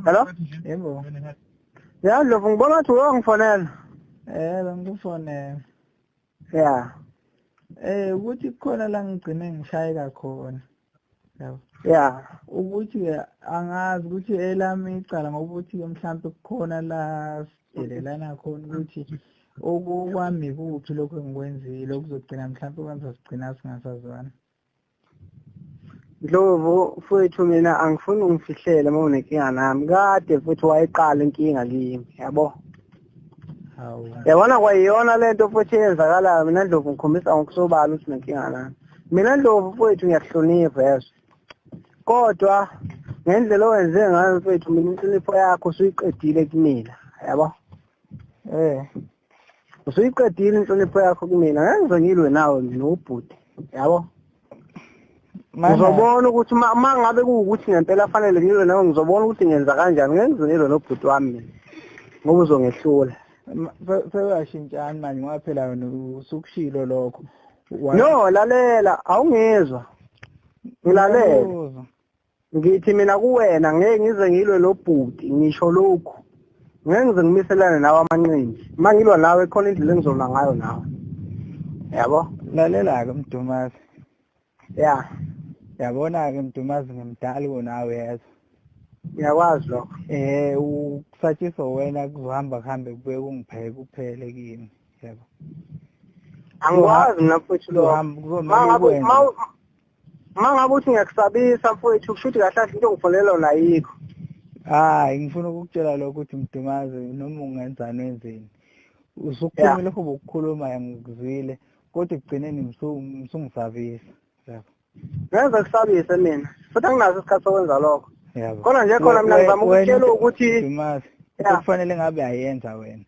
Hello? Yebo. Ya Ndlovu ngibona ukuthi uwe ngifonela. Eh bengikufonela. Ya. Eh ukuthi khona la ngigcine ngishayeka khona. Yabo. Ya. Ukuthi angazi ukuthi elami icala ngoba ukuthi mhlawumbe kukhona la sidelelana khona ukuthi okukwami kuphi lokho engikwenzile okuzogcina mhlawumbe kwenza sigcina singasazwana. Ndlovu mfowethu mina angifuni ungifihlele uma unenkinga nami kade futhi wayiqala inkinga kimi yabo hawu yabona kwayiyona lento futhi eyenzakalayo mina Ndlovu ngikhombisa ngokusobala ukuthi nenkinga nami mina Ndlovu mfowethu ngiyakuhlonipha yezwa kodwa ngendlela owenze ngayo mfowethu mina inhlonipho yakho usuyiqedile kumina yabo eh usuyiqedile inhlonipho yakho kumina ngenze ngilwe nawe mina ubhuti yabo ngizobona ukuthi uma ngabe kuwukuthi ngempela afanele ngilwe nawe ngizobona ukuthi ngenza kanjani ngenze ngilwe nobhuti wami mina ngoba uzongehlula sewuyashintshani manje ngoba phela wena usukushilo lokho no lalela awungizwa ngilalela ngithi mina kuwena ngeke ngize ngilwe lobhuti ngisho lokhu ngeke ngize ngimiselane nawe amanqindi uma ngilwa nawe khona indlela engizolwa ngayo nawe yabo lalela-ke mdumazi ya yabona-ke mdumazi ngimdali konawe yezwa ngiyakwazi lokho eh ukusatshiswa wena kuzohamba kuhambe kube kungipheke kuphele kimi yabo angikwazi mina futhi lokho Uma ngabe uthi ngiyakusabisa mfowethu kusho ukuthi kahle kahle into ongifonela yona ayikho. Hayi ngifuna ukukutshela lokho ukuthi mdumazi noma ungenzani wenzeni. Usukhuluma lokho bokukhuluma ngikuzwile kodwa ekugcineni ngisungisabisa. Yebo. Ngenza kusabise mina futhi anginaso isikhathi sokwenza lokho. Yebo. Kodwa nje khona mina ngizama ukutshela ukuthi Dumazi kufanele ngabe ayenza wena.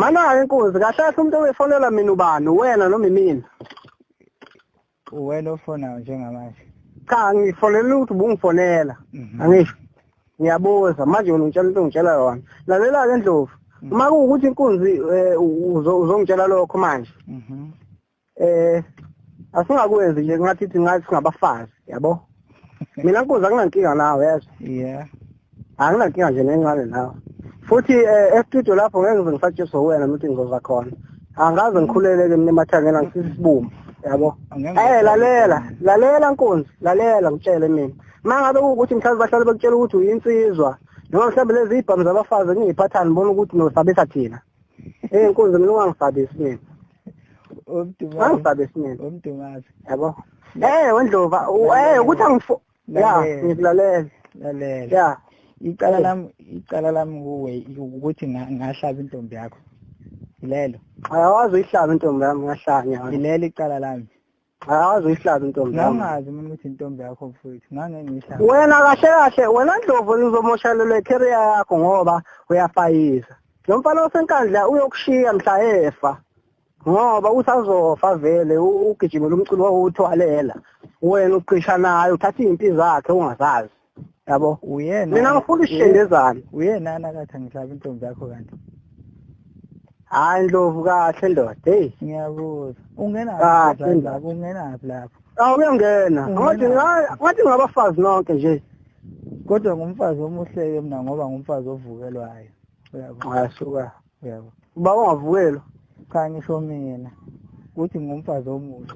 Mana inkunzi kahle kahle umuntu owefonela mina ubani wena noma imina uwena ofonayo njengamanje cha ngifonela ukuthi ubungifonela mhm. angisho ngiyabuza manje wena ungitshela into ongitshela yona lalela ke ndlovu mhm. uma kuwukuthi inkunzi eh, uzongitshela lokho manje mhm. eh asingakwenzi nje ngathi thi ngathi singabafazi yabo mina nkuza kunankinga nawe yazi yeah anginankinga nje nencane nawe futhi eh, estudio lapho ngeke ngize ngisatshiswe wena nokuthi ngizoza khona angaze ngikhuleleke mina emathangeni angisisibumbu yabo eh lalela lalela nkunzi lalela ngitshele mina mangabe ukuthi mhlawumbe bahlale bekutshela ukuthi uyinsizwa noma mhlawumbe lezi ibhamu zabafazi ngiyiphathani bona ukuthi nosabisa thina Eh nkunzi mina ungangisabisi mina. Umdungazi. Ungangisabisi mina. Umdungazi. Yabo. Eh wendlova, eh ukuthi angifo. Ya, ngikulalela. Lalela. Ya. Icala lam icala lam kuwe ukuthi ngahlaba intombi yakho. Lelo. Ayawazi uyihlaba intombi yami ngahlanya. Lelo icala lami. Awazi uyihlaza intombi yami. Ngangazi mina ukuthi intombi yakho mfowethu. Ngangeke ngiyihlaza. Wena kahle kahle wena Ndlovu uzomoshalelwa icareer yakho ngoba uyafayisa. Lo mfana osenkandla uyokushiya mhla efa. Ngoba usazofa vele ugijimela umculo wawuthwalela. Wena uqisha naye uthatha izinto zakhe ungazazi. yabo uyena mina ngifuna isishendezane uyena anakathi angihlabe intombi yakho kanti hayi ndlovu kahle ndoda heyi ngiyabuza ungenaphi lapho ungenaphi lapho awu uyangena ngathi ngathi ngabafazi nonke nje kodwa ngumfazi omuhle-ke mna ngoba ngumfazi ovukelwayo uyabo asuka yebo uba ungavukelwa cha ngisho mina ukuthi ngumfazi omusha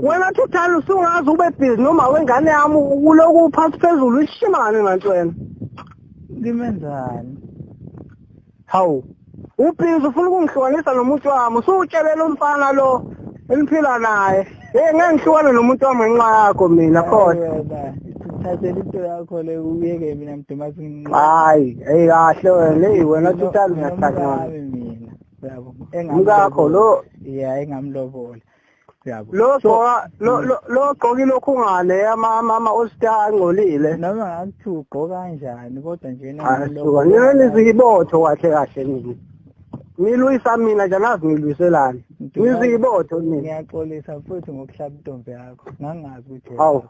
wena thuthani usungazi ube busy noma wengane yami ukulokhu uphansi phezulu ishimane nanto wena ngimenzani hawu ubhizi ufuna ukungihlukanisa nomuntu wami usuwutshelele umfana lo engiphila naye Eh ngangihlukana nomuntu wami ngenxa yakho mina kodwa. Thathela into yakho le uyeke mina mdumazi nginqo. Hayi, hey kahle wena, hey wena tutali ngiyathakana. Mina. Yabo. Engakho lo. Yeah, engamlobola. yabo lo gqoka lo lo gqoka lokhu ngale ama mama osta angcolile noma ngathi ugqoka kanjani kodwa nje nami lo ngene izibotho kahle kahle nini ngilwisa mina nje angazi ngilwiselani ngiziyibotho mina ngiyaxolisa futhi ngokuhlaba intombi yakho ngangazi ukuthi hawu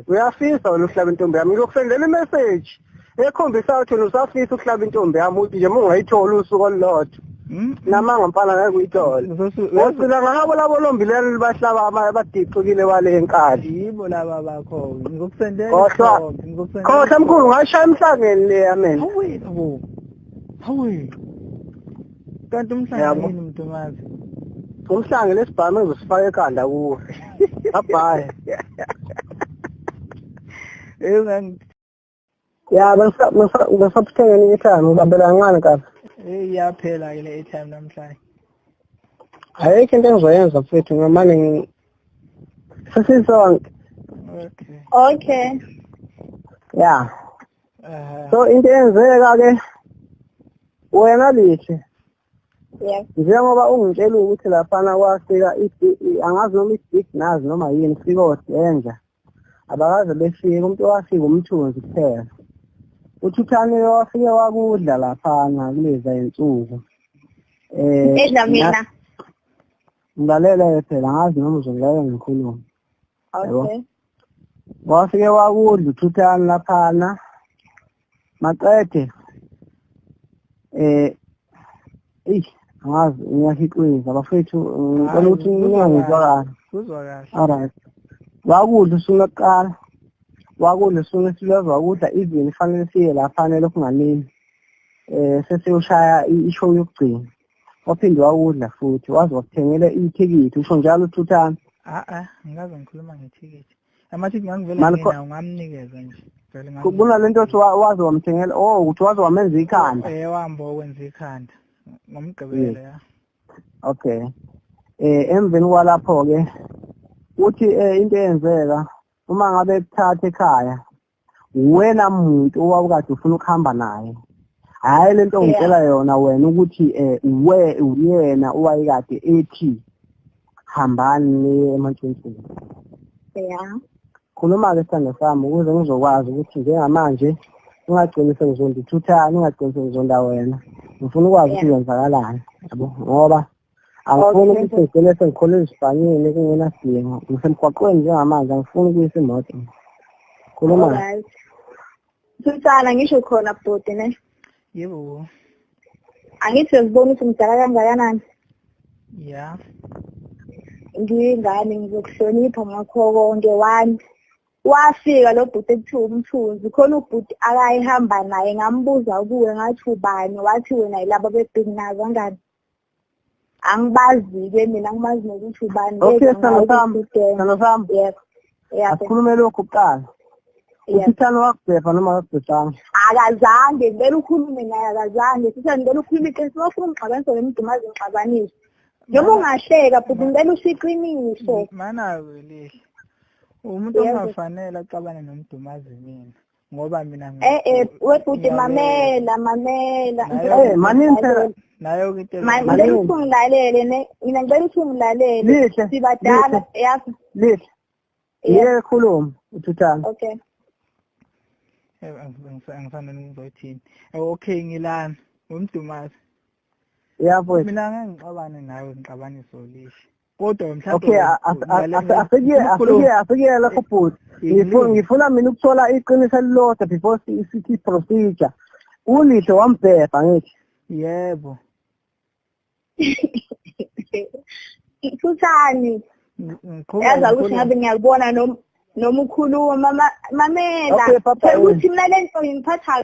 uyafisa wena uhlaba intombi yami ngiyokusendela imessage ekhombisa ukuthi wena usafisa ukuhlaba intombi yami ukuthi nje mungayithola usuku olulodwa hmm? namanga mfana ngeke uyithole ngicela ngabo labo lombilelo libahlaba abadixukile wale enkali yibo laba bakho ngizokusendela khohlwa mkhulu ngashaya emhlangeni le yamena hawe kanti umhlangano yini mntomazi umhlange lesibhamu ezosifaka ekhanda kuwe abhaye eyo ngangi ya bangisa bangisa bangisa puthenga ni time ubambela ngani kahle eh iyaphela ke le time namhlanje ayikho into engizoyenza mfethu ngamane sesizonke okay okay yeah so into eyenzeka ke wena lihle njengoba ungitshela ukuthi laphana kwafika angazi noma i-big nazi noma yini fika odenja abakaze befike umuntu owafika umthunzi kuphela uthuthaniwe wafike wakudla laphana kuleza insuku um edla mina ngilalela phela ngazi noma uzongilalela ngikhulume okay wafike wakudla uthuthani laphana maqede eh eish ngazi ngiyahixweza bafethu ngicela ukuthi ningangizwa kahle kuzwa kahle alright wakudla usuku lokuqala wakudla usuku esilweza wakudla even fanele siye laphana lokhu nganini eh sesiyoshaya ishow yokugcina waphinde wawudla futhi waze wakuthengela ithikithi usho njalo uthuthana a-a ngikaze ngikhuluma ngethikithi amathikithi ngangivele ngenawo ngamnikeza nje kunale nto othi waze wamthengela o oh, ukuthi waze wamenza ikhanda um eh, wambo okwenza ikhanda ngomgqibelo ya okay um emveni kwalapho-ke uthi um into eyenzeka uma ngabe kuthatha ekhaya wena muntu owawukade ufuna ukuhamba naye hhayi le nto ngitshela yona wena ukuthi um we uyena owayekade ethi hambani niye emantshintshini ya khuluma-ke sithanda sami ukuze ngizokwazi ukuthi njengamanje ungagcini sengizondithuthani ungagcini sengizonda wena ngifuna ukwazi ukuthi kwenzakalani yabo ngoba angifuni ukuthi ngigcine sengikhole ezibhanyeni kungenasidingo ngisemgwaqweni njengamanje angifuni ukuyisa imoto khuluma sisana ngisho khona bhuti ne yebo angithi sezibona ukuthi mdala kangakanani ya ngiyingane ngizokuhlonipha ngakho konke one wafika lo bhuti ekuthiwa umthunzi khona ubhuti akayihamba naye ngambuza kuwe ngathi ubani wathi wena yilaba bebhinginazi angani angibazi-ke mina ngimazi nokuthi ubani okay sithando sami sithando sami yebo asikhulume lokhu kuqala usithando wakubhebha noma akakubhebhanga akazange ngibele ukhulume naye akazange sithando ngibele ukhulume iqiniso wafuna ungixabanise ngemdumazi ngixabanise noma ungahleka futhi ngibele usho iqiniso mana-ke lihle umuntu ongafanele axabane nomdumazi mina ngoba mina eh eh webhuti mamela mamela eh maninse nayo kinte ngicela ukuthi ungilalele ne mina ngicela ukuthi ungilalele sibadala yazi lihle yeke khuluma uthuthana okay eh, angifanele ngizoyithini eh, okay ngilana ngumdumazi yabo mina ngangixabane nawe ngixabanise ulishe kodwa mhlawumbe okay asekuyela lapho bhuti ngifuna mina ukuthola iqiniso elilodwa before sithi procedure ulitho wambhebha ngithi yebo Thuthani. Yazi ukuthi ngabe ngiyakubona noma noma ukhuluma mama mamela. Ukuthi mina lento ngiphatha